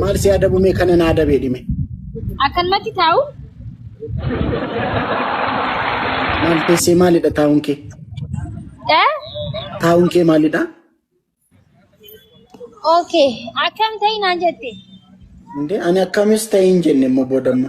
Maal si adabu mee kana naa dabee dhime. Akkanumatti taa'u Maal teessee maalidha taa'uun kee? eh? Taa'uun kee maalidha? Okay. Akkam ta'e naan jette. Indee ani akkamis ta'e hin jenne immoo boodamma.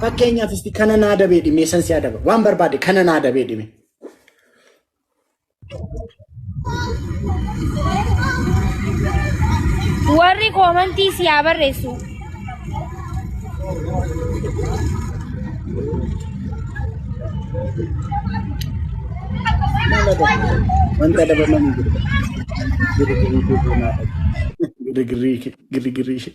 Fakkeenyaaf isti kana naa dabee dhimee san si adaba. Waan barbaade kana naa dabee dhimee. Warri koomantii si haa barreessu. Wanta dabaman jiru. Girigirrii kee naa dhabe. Girigirrii kee- girigirrii ishee.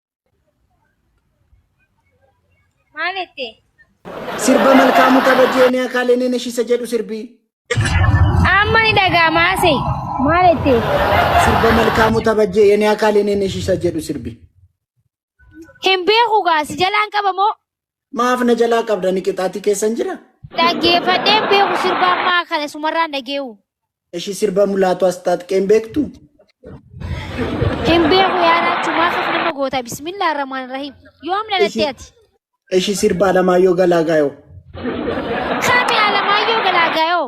Maal jette? Sirba malkaamuu kabajee ni akaalee ni nashisa jedhu sirbii. Amma ni dhaga'ama ase. Maal jette? Sirba malkaamuu kabajee yeni akaalee ni nashisa jedhu sirbii. Hin beeku gaasi jalaan qabamoo Maaf na jalaa qabda ni qixaatii keessan jira? Dhaggeeffadheen beeku sirba ammaa kana sumarraan dhageewu. Ishii sirba mulaatu as taatqeen beektu? Hin beeku yaada achumaa akkas nama goota bismillah rahmaan rahim. Yoom dhalattee ati? Ishii sirba Alamaayyoo Galaagaayoo. Kami Alamaayyoo Galaagaayoo?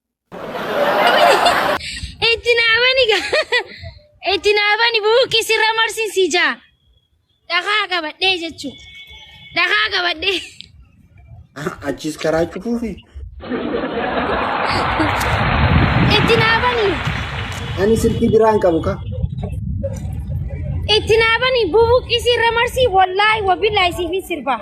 Itti naabani ga. Itti naabani buuqqi sirra marsin si jaa. Dhakaa qabadhee jechuu. Dhakaa qabadhee. Achiis karaa cufuufi. Itti naabani. Ani silkii biraan qabu ka. Itti naabani buuqqi sirra marsi wallaahi wabillahi siifin sirbaa.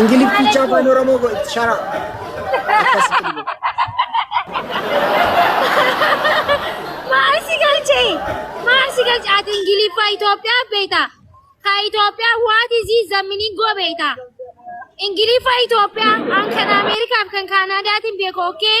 Ingilifficha afaan Oromoo go itti shara. Akkasitti dubbatu. Maal si galche? Maal si galche? Ati Ingiliffa Itoophiyaa beekta. Ka Itoophiyaa what is it the meaning go beekta. Ingiliffa Itoophiyaa an kan Ameerikaaf kan Kaanaadaatiin beeku okay?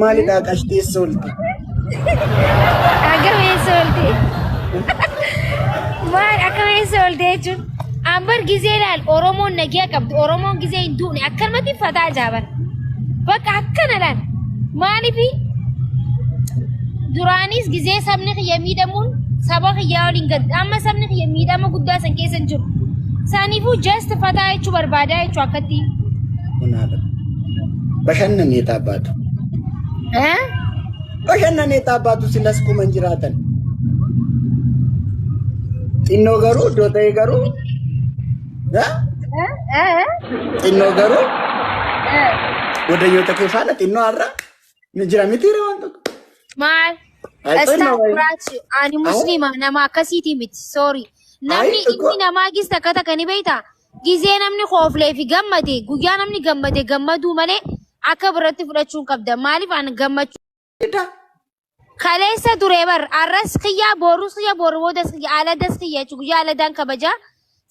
Maalidhaa qashtee soolti? Akkam eessa oolte? Maal akkam eessa oolte jechuun? Ambar gizee ilaal Oromoon nagaa qabdu Oromoon gizee hin duune akkanumatti fataa jaaban. Bakka akkana laal. Maaliifi duraanis gizee sabni kiyya miidhamuun saba kiyyaa waliin gadda amma sabni kiyya miidhama guddaa san keessa hin jiru. Saaniifuu just fataa jechuu barbaadaa jechuu akkatti. Kunaadha. Bashannanee taabbaatu. Eh? Bashannanee taabbaatu silas kuma hin jiraatan. Xinnoo garuu iddoo ta'e garuu eh? Eh? Eh? xinnoo garuu Eh? wadayyoota kee faana xinnoo har'a ni jira miti waan tokko. Maal? Ay, Istaa xinnoo wayi. kuraati. Ani musliima nama akkasiiti miti. Sorry. Namni Ay, inni namaa gis takka takka ni beektaa? Gizee namni kooflee fi gammade guyyaa namni gammade gammaduu malee akka birratti fudhachuun qabda. Maaliif an gammachuu Dida. kaleessa ture bar arras kiyya boorus kiyya booru boodas kiyya aladas kiyya jechuun guyyaa aladaan kabaja.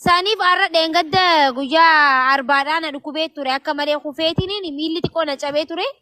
Saniif arra dheengadda guyyaa arbaadhaa na dhukubee ture akka malee kufeetiniin miilli xiqqoo na cabee ture.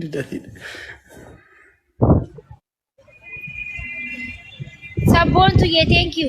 Didatiidha. Sabboontu yee thank you.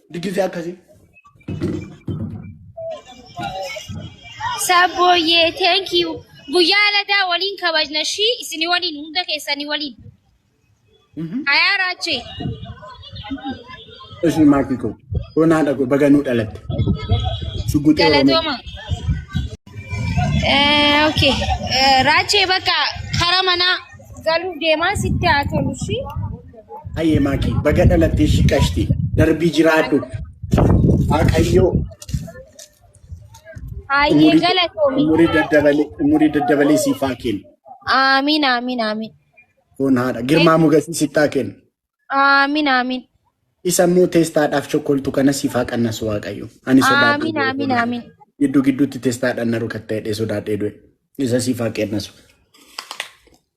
Diddisee akkasii. Sabbooyyee thank you. Guyyaa ladaa waliin kabajna shii isin waliin hunda keessanii waliin. Ayaa raachee. Ishii maatii koo. Onaa dhaqu baga nuu dhalatte. Shugguxii Oromoo. Galatooma. Eh, okay. Eh, Raachee bakka kara manaa galuuf deemaa sitti haa tolu shii. Hayyee maakii baga dhalattee ishii qashti darbii jiraadhu waaqayyoo Hayyee umurii galatoomi. umurii daddabalee umurii daddabalee siif haa kennu Aamiin aamiin aamiin. kun haadha girmaa mugasii siif haa kennu Aamiin aamiin. isa immoo teestaadhaaf chokkoltu kana siif haa qannasu waaqayyo ani sodaadhu Aamiin aamiin aamiin. gidduu gidduutti teestaadhaan na rukatta'ee sodaadhee du'e isa siif haa qannasu